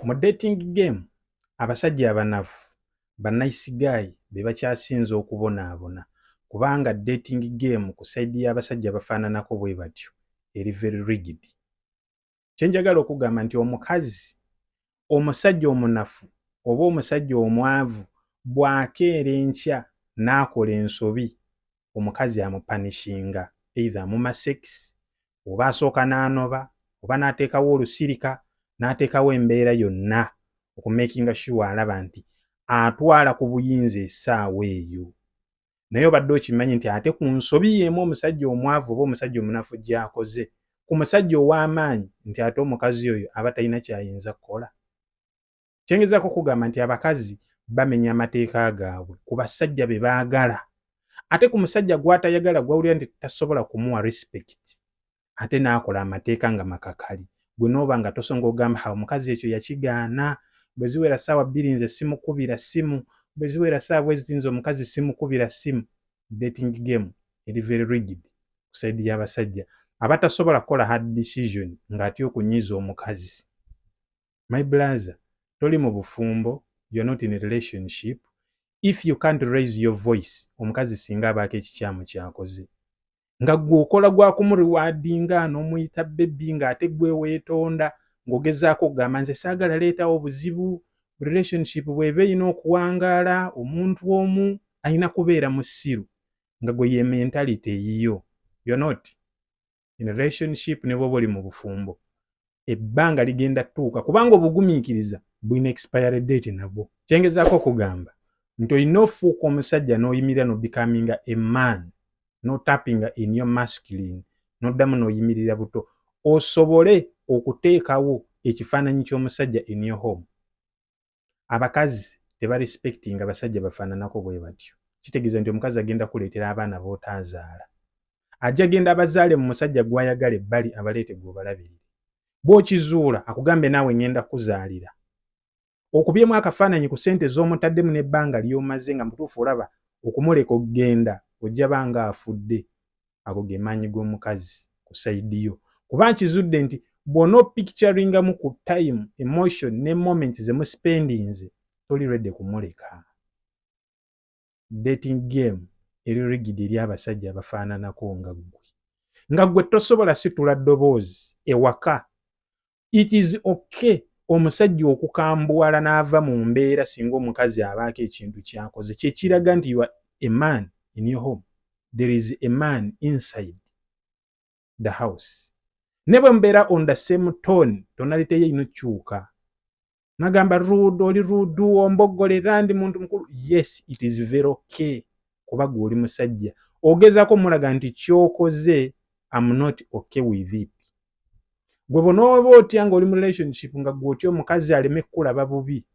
Mu dating game, abasajja abanafu bannayisi gaayi be bakyasinze okubonaabona kubanga dating game ku sayidi y'abasajja bafaananako bwe batyo eri very rigid. Kye njagala okugamba nti omukazi omusajja omunafu oba omusajja omwavu bw'akeera enkya n'akola ensobi omukazi amupanishinga either amuma sekisi oba asooka n'anoba oba n'ateekawo olusirika n'ateekawo embeera yonna okumakinga shuwa alaba nti atwala ku buyinza essaawa eyo naye obadde okimanyi nti ate ku nsobi yeemu omusajja omwavu oba omusajja omunafu gyakoze ku musajja ow'amaanyi nti ate omukazi oyo aba talina kyayinza kukola Kyengezako kugamba nti abakazi bamenya amateeka gaabwe ku basajja be baagala ate ku musajja gw'atayagala gw'awulira nti tasobola kumuwa respect ate n'akola amateeka nga makakali gwe n'oba nga tosonga ogamba ha omukazi ekyo yakigaana bwe ziwera ssaawa bbiri nze simukubira ssimu bwe ziwera ssaawa bwe ziti nze omukazi simukubira ssimu dating game eri very rigid ku saidi y'abasajja abatasobola kukola hard decision ng'atya okunyiiza omukazi. my blaza toli mu bufumbo you're not in a relationship if you can't raise your voice omukazi singa abaako ekikyamu kyakoze nga gwe okola gwakumuliwadinga nomuyita bebi nga ate gwe wetonda ngaogezaako okugamba nze saagala leetawo obuzibu relationship bweba erina okuwangaala omuntu omu alina kubeera musiru nga gwe ye mentality eyiyo you're not in relationship ne bwoba oli mu bufumbo ebbanga ligenda tuuka kubanga obugumiikiriza bulina expiry date nabwo kyengezaako okugamba nti olina ofuuka omusajja n'oyimirira nobicaminga a man notapinga in your masculine noddamu n'oyimirira buto osobole okuteekawo ekifaananyi ky'omusajja in your home abakazi tebarespectinga basajja bafaananako bwe batyo kitegeeza nti omukazi agenda kuleetera abaana b'otaazaala ajja genda abazaale mu musajja gw'ayagala ebbali abaleete gw'obalabirire bw'okizuula akugambe naawe ngenda kuzaalira okubyemu akafaananyi ku ssente z'omutaddemu n'ebbanga ly'omaze nga mutuufu olaba okumuleka okugenda ojja banga afudde ago ge maanyi g'omukazi ku sayidi yo kuba nkizudde nti bw'ona opicturingamu ku time emotion ne moment ze muspendinze toli redi kumuleka dating game eri rigidi eri abasajja abafaananako nga ggwe nga ggwe tosobola situla ddoboozi ewaka it is okay omusajja okukambuwala n'ava mu mbeera singa omukazi abaako ekintu kyakoze kyekiraga nti ua a man in your home there is a man inside the house ne bwe mubeera on the same tone tonaliteyo ino kyuka nagamba rude oli rude ombogolera ndi muntu mukulu yes it is very okay kuba gwe oli musajja ogezako mulaga nti kyokoze am not okay with it gwe bonaoba otya nga oli mu relationship nga gwe otya omukazi aleme kukulaba bubi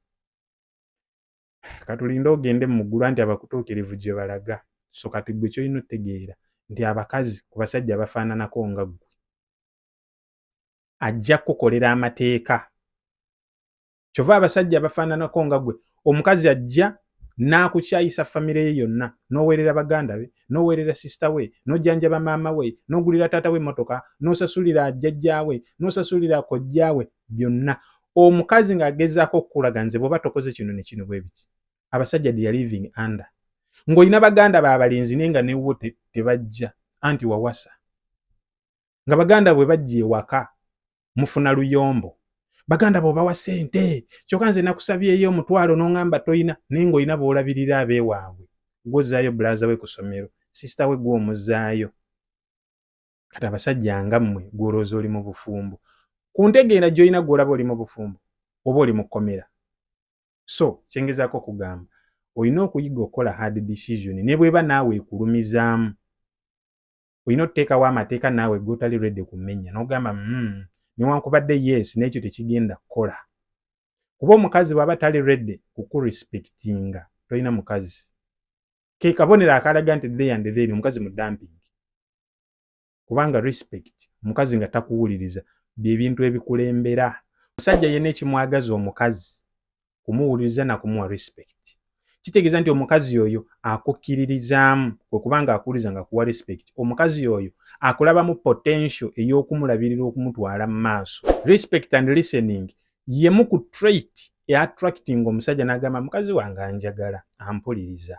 katulinde ogende mu ggulu anti abakutuukirivu gye balaga so kati gwe kyolina otegeera nti abakazi ku basajja bafaananako nga gwe ajja kukukolera amateeka kyova abasajja abafaananako nga gwe omukazi ajja n'akukyayisa famire ye yonna n'oweerera baganda be n'oweerera sisita we n'ojjanjaba maama we n'ogulira taata we emmotoka n'osasulira jjajjaawe n'osasulira kojjaawe byonna omukazi ng'agezaako okukulaga nze bw'oba tokoze kino ne kino bwe biki abasajja dia living under ng'olina baganda baabalenzi naye nga newo tebajja anti wawasa nga baganda bwe bajja ewaka mufuna luyombo baganda bo bawa sente kyokka nze nakusabyeyo omutwalo n'oŋamba tolina naye ng'olina boolabirira abeewaabwe gwozaayo bulaaza we ku ssomero sisita we gw'omuzaayo kati abasajja nga mmwe gw'olowooza oli mu bufumbo ku ntegeera gy'olina gw'olaba oli mu bufumbo oba oli mu kkomera so kyengezaako okugamba olina okuyiga okukola hard decision ne bweba naawe ekulumizaamu olina otuteekawo amateeka naawe gotali redi kumenya nogamba mm, newankubadde yes n'ekyo tekigenda kukola kuba omukazi bwaba tali redi kukurespectinga tolina mukazi ke kabonero akalaga nti the and then omukazi mu dumping kubanga respect omukazi nga takuwuliriza byebintu ebikulembera omusajja yena ekimwagaza omukazi kumuwuliriza na kumuwa respect kitegeeza nti omukazi oyo akukkiririzaamu kwe kubanga akuwuliriza nga kuwa respect omukazi oyo akulabamu potential ey'okumulabirira okumutwala mu maaso respect and listening yemu ku trait eattracting omusajja n'agamba mukazi wange anjagala ampuliriza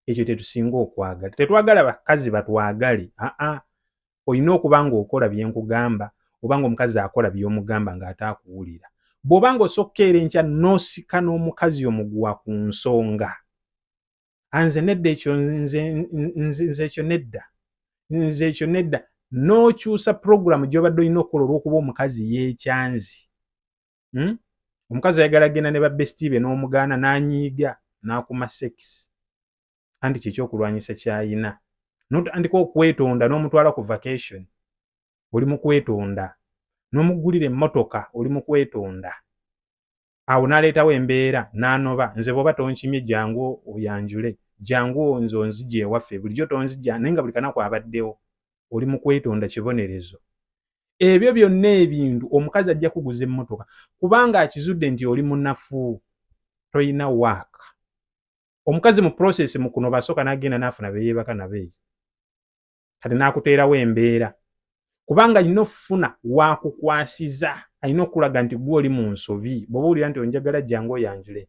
ekyo tetusinga okwagala tetwagala bakazi batwagale aa olina okuba ng'okola bye nkugamba oba ng'omukazi akola by'omugamba ng'ate akuwulira bw'oba ng'osa okukeera enkya n'osika n'omukazi omuguwa ku nsonga anze nedda ekyo nze ekyo nedda nze ekyo nedda n'okyusa pulogulaamu gy'obadde olina okukola olw'okuba omukazi yeekyanzi hmm? omukazi ayagala genda ne babesiti be n'omugaana n'anyiiga n'akuma sekisi anti kyekyokulwanyisa kyayina notandika okwetonda n'omutwala ku vacation oli mu kwetonda n'omuggulira emmotoka oli mu kwetonda awo n'aleetawo embeera n'anoba nze bwoba tonkimye jangu oyanjule jangu nze onzija ewaffe bulijjo tonzija naye nga buli kanaku abaddewo oli mu kwetonda kibonerezo ebyo byonna ebintu omukazi ajja kuguza emmotoka kubanga akizudde nti oli munafu tolina waaka omukazi mu process mukuno basooka nagenda nafuna beyebaka nabo eyo kati nakuteerawo embeera kubanga alina okufuna wakukwasiza alina okulaga nti gwe oli mu nsobi bwoba owulira nti onjagala jangu oyanjule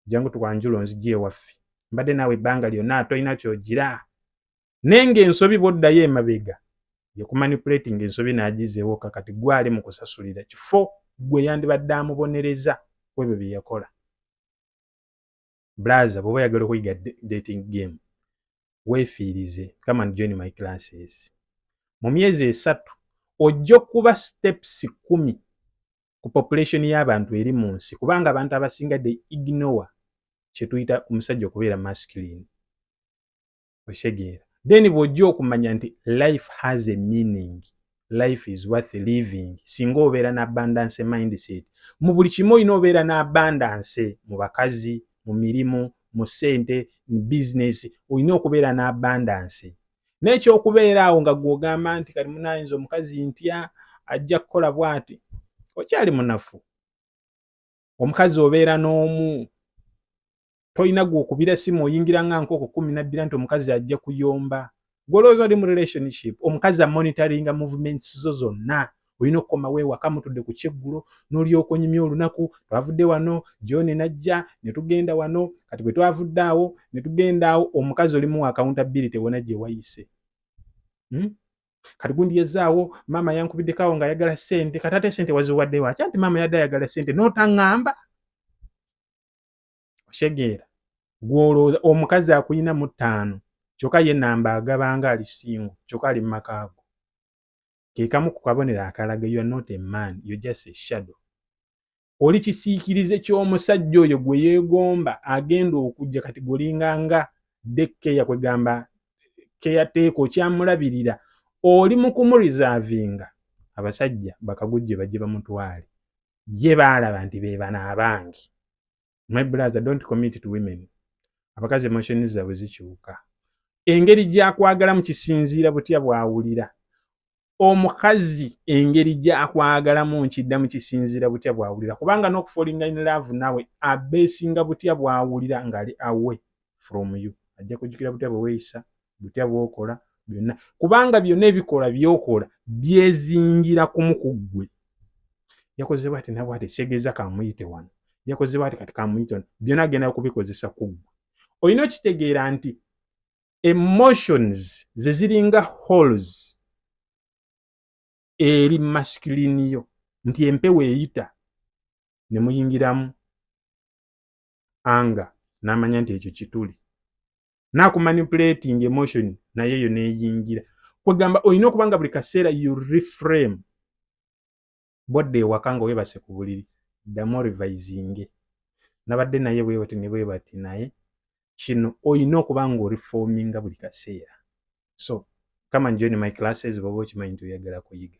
jangu tukwanjula onzijja ewaffe mbadde naawe ebbanga lyonna tolina kyogira naye ng'ensobi bw'oddayo emabega yekumanipulatinga ensobi n'agizeewoka kati gwali mu kusasulira kifo gwe yandibadde amubonereza ku ebyo bye yakola blaza bw'oba yagala okuyiga dating game weefiirize come and join my classes mu myezi esatu ojja okuba steps kumi ku population y'abantu eri mu nsi kubanga abantu abasinga de ignore kyetuyita omusajja okubeera masculine okitegeera then bw'ojja okumanya nti life has a meaning life is worth living singa obeera na abundance mindset mu buli kimu olina obeera na abundance mu bakazi mu mirimu mu ssente mu bizinesi olina okubeera na abundance n'ekyokubeera awo nga gwogamba nti kali munayinza omukazi ntya ajja kukola bwati okyali munafu omukazi obeera n'omu tolina gwokubira simu oyingira nga nkoko kumi nabbira nti omukazi ajja kuyomba gwolowooza oli mu relationship omukazi amonitoringa movements zo zonna olina okukomawo ewaka mutudde ku kyeggulo n'olyoka onyumya olunaku twavudde wano john najja ne tugenda wano kati bwe twavudde awo ne tugenda awo omukazi olimu wa accountability wona gye wayise hmm? kati gundi yazaawo maama yankubiddeko awo ng'ayagala ssente kati ate ssente waziwadde wakya nti maama yadde ayagala ssente n'otaŋŋamba oshegeera gw'olowooza omukazi akuyina mu ttaano kyokka ye namba agabanga ali singo kyokka ali mu makaago ke kamu ku kabonero akalaga you are not a man you just a shadow oli kisiikirize ky'omusajja oyo gwe yeegomba agenda okujja kati golinga nga dekkeya kwegamba keyateeka okyamulabirira oli mu kumurizavinga abasajja bakagujje bajje bamutwale ye baalaba nti beebana abangi my brother don't commit to women abakazi emotion zaabwe zikyuka engeri gyakwagalamu kisinziira butya bwawulira omukazi engeri gyakwagalamu nkiddamu kisinziira butya bwawulira kubanga n'okufolinga in love nawe abeesinga butya bwawulira ng'ali awe from you ajja kujukira butya bweweyisa butya bwokola byonna kubanga byonna ebikola byokola byezingira kumu ku ggwe yakoze bwati nabwe ati kyegeza kamuyite wano yakoze bwati kati kamuyite wano byonna agenda kubikozesa ku ggwe olina okitegeera nti emotions ze ziringa halls eri masculine yo nti empewo eyita ne muyingiramu anga namanya nti ekyo kituli nakumanipulating emotion naye eyo neyingira kwegamba olina okuba nga buli kaseera you reframe bwadde ewaka nga webase ku buliri ddamu orivisinge nabadde naye bwebati ne bwebati naye kino olina okuba nga orifominga buli kaseera so come and join my classes bwoba okimanyi nti oyagala kuyiga